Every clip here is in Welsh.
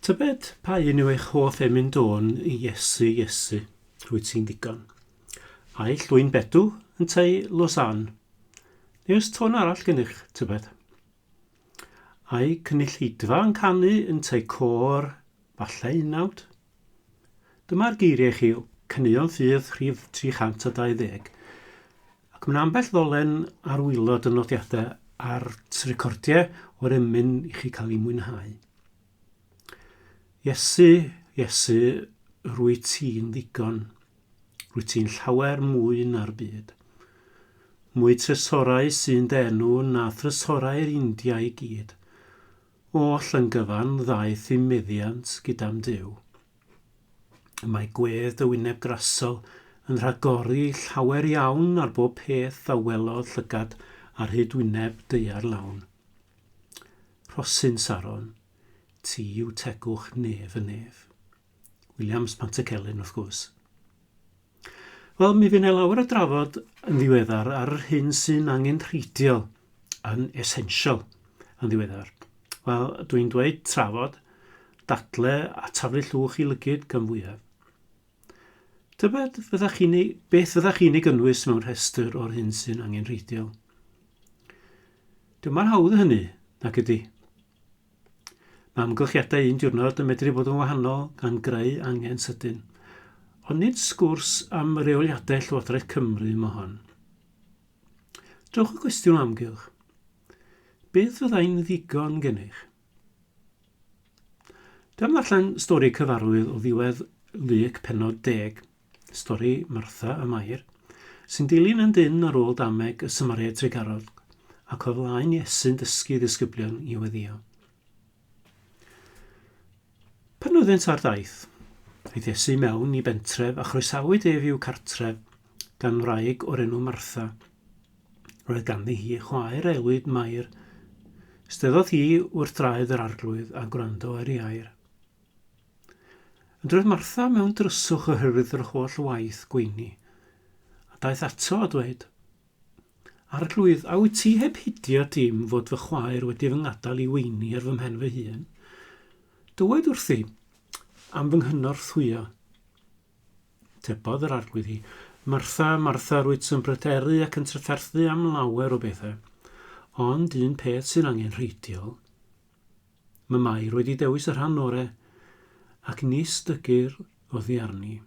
Tybed pa un yw eich hoff emyn dôn i Iesu, Iesu, rwyt ti'n ddigon. Ai llwyn bedw, yn tei Lausanne? Neu ys tôn arall gennych, tybed? Ai cynulleidfa yn canu yn tei côr, falle unawd? Dyma'r geiriau chi o Caneuon Ffydd rhif 320. Ac mae 'na ambell ddolen ar wylod y nodiadau a'r recordiau o'r emyn i chi cael ei mwynhau. Iesu, Iesu, rwy ti'n ddigon. Rwy ti'n llawer mwy na'r byd. Mwy tresorau sy'n denw na thresorau'r India i gyd. Oll yn gyfan ddaeth i meddiant gyda'n Duw. Y mae gwedd dy wyneb grasol yn rhagori llawer iawn ar bob peth a welodd llygad ar hyd wyneb deuar lawn. Rhosyn Saron, ti yw tegwch nef y nef. Williams Pantycelyn, wrth gwrs. Wel, mi fy' 'ne lawer o drafod yn ddiweddar ar yr hyn sy'n angenrheidiol, yn essential, yn ddiweddar. Wel, dwi'n dweud trafod, dadle a taflu llwch i lygyd gan fwyaf. Tybed fyddech chi'n ei, beth fyddech chi'n ei gynnwys mewn rhestr o'r hyn sy'n angenrheidiol? Dyma'r hawdd hynny, nac ydy? Mae amgylchiadau un diwrnod yn medru bod yn wahanol gan greu angen sydyn. Ond nid sgwrs am reoliadau Llywodraeth Cymru mo hon. Dewch y cwestiwn o amgylch. Beth fyddai'n ddigon gennych? Dyma allan stori cyfarwydd o ddiwedd Luc penod deg. Stori Martha a Mair, sy'n dilyn yn dynn ar ôl dameg y Samaria Tregarog, ac o flaen Iesu'n dysgu ddisgyblion i weddïo. Pan oeddynt ar daith, aeth Iesu mewn i bentref a chroesawyd ef i'w cartref gan wraig o'r enw Martha. Roedd ganddi hi chwaer a elwid Mair. Steddodd hi wrth draed yr arglwydd a gwrando ar ei air. Ond roedd Martha mewn dryswch oherwydd yr holl waith gweini, a daeth ato a dweud, Arglwydd, a wyt ti heb hidio dim fod fy chwaer wedi fy ngadael i weini ar fy mhen fy hun? Dywed wrthi am fy nghynorthwyo. Tebodd yr arglwydd hi, Martha, Martha, rwyt yn bryderu ac yn trafferthu am lawer o bethau, ond un peth sy'n angenrheidiol, Mamau, roedd di dewis y rhan ore ac nis dygyr oddi arni.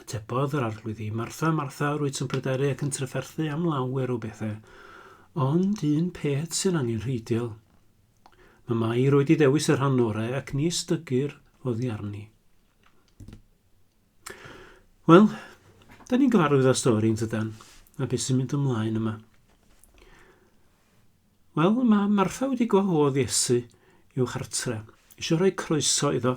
Tebodd yr arglwydd i, Martha, Martha, rwyt yn pryderu ac yn trefferthu am lawer o bethau, ond un peth sy'n angen rheidil. Mamau, roedd di dewis y rhan ore ac nis dygyr oddi arni. Wel, da ni'n gyfarwydd â stori yn tydan, a beth sy'n mynd ymlaen yma. Wel, mae Martha wedi gwahodd Iesu i'w chartre, isio rhoi croeso iddo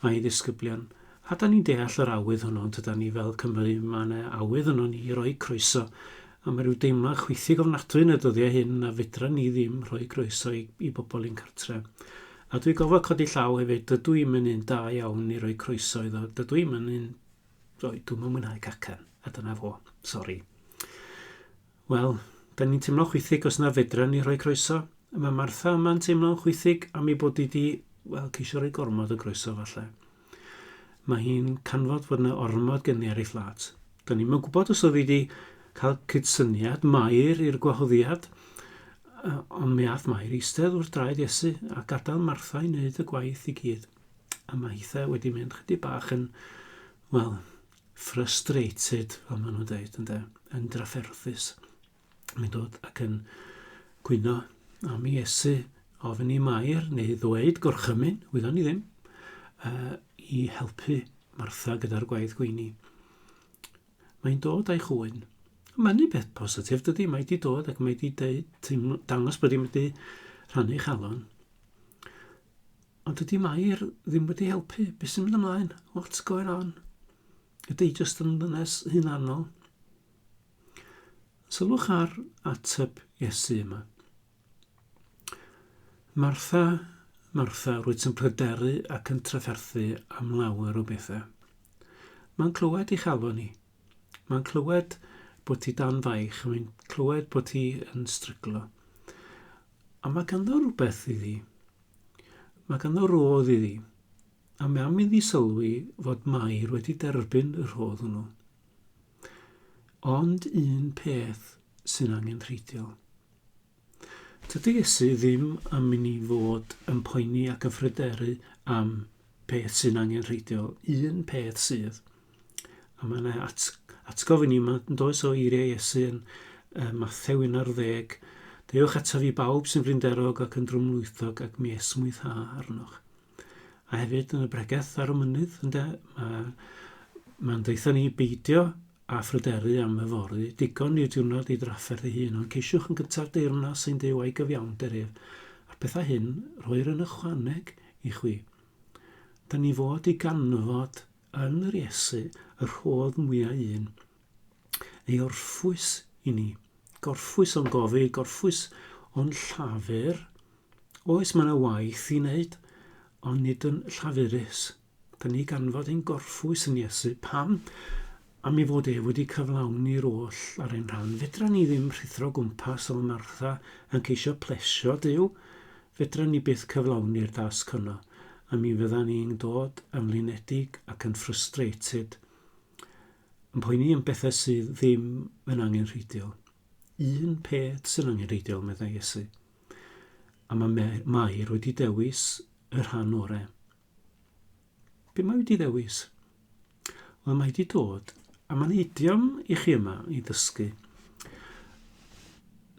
a'i ddisgyblion. A 'dan ni'n deall yr awydd hwnnw, yn tydan ni, fel Cymry, mae 'na awydd ynon ni i roi croeso, a mae rhyw deimlad chwithig ofnadwy yn y dyddiau hyn na fedran ni ddim rhoi croeso i, i bobl i'n cartre. A dwi gofod codi llaw hefyd, dydw i'm yn un da iawn i roi croeso iddo, dydw i'm yn un, roi, dwi'm yn mwynhau cacan, a dyna fo, sori. Wel, 'da ni'n teimlo'n chwithig os na fedran ni rhoi croeso. Mae Martha yma'n teimlo'n chwithig am ei bod wedi, wel, ceisio rhoi gormod o groeso falle. Mae hi'n canfod fod yna ormod gen i ar ei phlat. Da ni'n mynd gwybod os oedd hi wedi cael cydsyniad Mair i'r gwahoddiad, ond mi ath Mair eistedd wrth draed Iesu a gadael Martha i wneud y gwaith i gyd. A mae hitha wedi mynd chydig bach yn, wel, frustrated, fel maen nhw'n dweud, ynde, yn drafferthus. Mae'n dod ac yn gwyno am Iesu, ofyn i Mair, neu ddweud gorchymyn, wyddon ni ddim, uh, i helpu Martha gyda'r gwaith gweini. Mae'n dod a'i chwyn. Mae'n beth positif dydy, mae wedi dod ac mae wedi dangos bod wedi rhannu chalon. Ond dydy Mair ddim wedi helpu. Be sy'n mynd ymlaen? What's going on? Ydy hi jyst yn ddynes hunanol? Sylwch ar ateb Iesu yma. Martha, Martha, rwyt yn pryderu ac yn trafferthu am lawer o bethau. Mae'n clywed i chalon ni. Mae'n clywed bod ti dan faich, mae'n clywed bod ti yn stryglo. A mae ganddo rhywbeth iddi. Mae ganddo rodd iddi. A mae am iddi sylwi fod Mair wedi derbyn y rhodd hwnnw. Ond un peth sy'n angen rheidiol. Tydy Iesu ddim am i ni fod yn poeni ac yn phryderu am peth sy'n angen rheidiol, un peth sydd. A mae yna at, atgof i ni yma, yn does o eiriau Iesu yn uh, Mathew 11. Dewch ataf i bawb sy'n frinderog ac yn drwmlwythog ac mi esmwytha arnoch. A hefyd yn y bregeth ar y mynydd, ynddo, mae mae'n deitha ni beidio a phryderu am yfory, digon i'r diwrnod ei drafferth ei hun, ond ceisiwch yn gyntaf deyrnas ein Duw a'i gyfiawnder ef, a'r pethau hyn rhoi'r yn ychwaneg i chwi. Da ni fod i ganfod Yn yr Iesu y rhodd mwya un, ei orffwys i ni. Gorffwys o'n gofid, gorffwys o'n llafur. Oes, mae yna waith i wneud, ond nid yn llafurus. Da ni ganfod ein gorffwys yn Iesu. Pam? Am ei fod ef wedi cyflawni'r oll ar ein rhan. Fedra ni ddim rhuthro gwmpas fel Martha yn ceisio plesio Duw. Fedran ni byth cyflawni'r dasg honno, a mi fyddan ni'n dod yn flinedig ac yn frustrated, yn poeni am bethau sydd ddim yn angenrheidiol. Un peth sy'n angenrheidiol, meddai Iesu. A mae Mair wedi dewis y rhan orau. Be mae wedi ddewis? Wel, mae wedi dod a mae'n idiom i chi yma i ddysgu.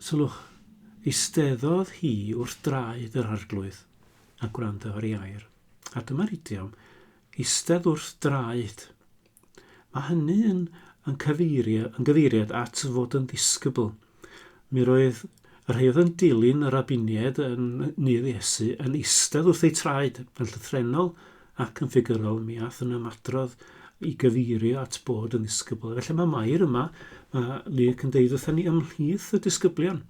Sylwch, eisteddodd hi wrth draed yr arglwydd a gwrando ar ei air. A dyma'r idiom, eistedd wrth draed Mae hynny yn yn cyfeirio yn gyfeiriad at fod yn ddisgybl. Mi roedd y rhai oedd yn dilyn y rabiniaid yn nydd Iesu yn eistedd wrth eu traed, yn llythrennol ac yn ffigurol, mi aeth yn ymadrodd i gyfeirio at bod yn ddisgybl. Felly mae Mair yma, mae Luke yn deud wrthyn ni ymhlith y disgyblion.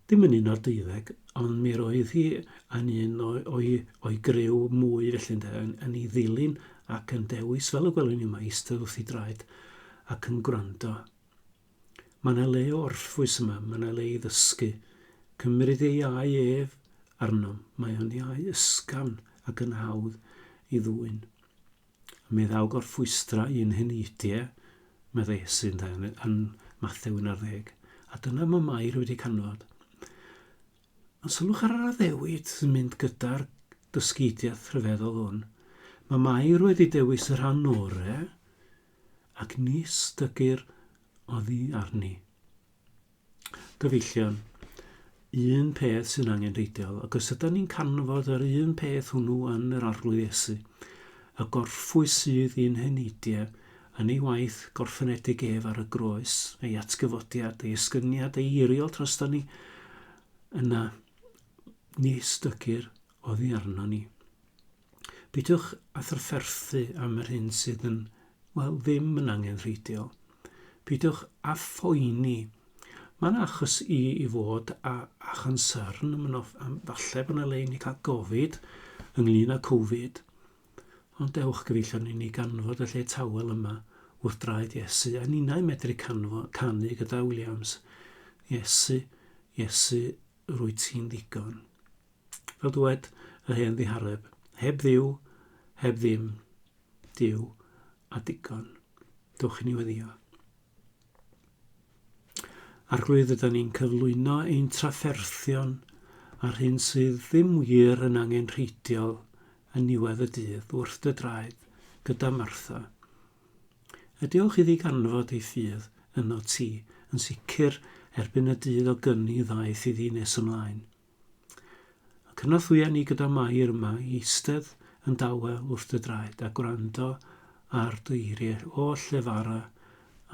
Ddim yn un o'r deuddeg, ond mi roedd hi yn un o'i griw mwy felly ynde, yn ei ddilyn ac yn dewis, fel y gwelwn ni yma, eistedd wrth ei draed ac yn gwrando. Mae yna le o orffwys yma, mae yna le i ddysgu. Cymryd ei iau ef arnom, mae o'n iau ysgafn ac yn hawdd i ddwyn. Mi ddaw gorffwystra un hyn Itie, meddai Esyn, dau yn Mathew 11, a dyna mae Mair wedi canfod. Ond sylwch ar yr addewid sy'n mynd gyda'r dysgidiaeth rhyfeddol hwn. Mae Mair wedi dewis y rhan orau ac nis dygyr oddi arni. Gyfeillion, un peth sy'n angenrheidiol, ac os ydym ni'n canfod yr un peth hwnnw yn yr Arglwydd Iesu, y gorffwys sydd i'n heneidiau, yn ei waith gorffenedig ef ar y groes, ei atgyfodiad, ei esgyniad ei eiriol troston ni, yna ni stygir oddi arno ni. Peidiwch â thrafferthu am yr hyn sydd yn, wel, ddim yn angenrheidiol. Peidiwch â phoeni. Mae yna achos i i fod â, â chonsyrn, mae yna, falle bod yna le i ni cael gofid ynglyn â Covid, ond dewch gyfeillion i ni ganfod y lle tawel yma wrth draed Iesu, a ninnau medru canfo, canu gyda Williams, Iesu, Iesu, rwyt ti'n ddigon. Fel dywed yr hen ddihareb, heb Dduw, heb ddim, Duw a digon. Dwch i ni weddio. Arglwydd, yda ni'n cyflwyno ein trafferthion a'r hyn sydd ddim wir yn angen rheidiol yn niwedd y dydd wrth dy draed gyda Martha. A diolch iddi ganfod ei ffydd yno ti, yn sicr erbyn y dydd o gyni ddaeth iddi nes ymlaen. Cynorthwya ni gyda Mair yma i eistedd yn dawel wrth dy draed a gwrando ar dy eiriau oll llefara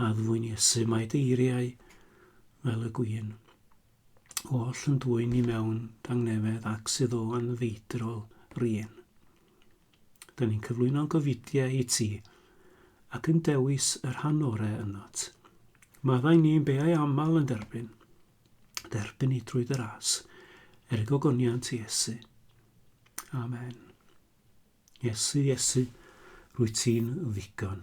a ddwyn Iesu. Mae dy eiriau fel y gwin oll yn dwyn i mewn dangnefedd ac sydd o anfeidrol rien. Da ni'n cyflwyno'n gofidiau i ti ac yn dewis y rhan orau ynot. Maddau ni'n beau aml yn derbyn. dderbyn ni drwy dy ras, er y gogoniant Iesu. Amen. Iesu, Iesu, rwy ti'n ddigon.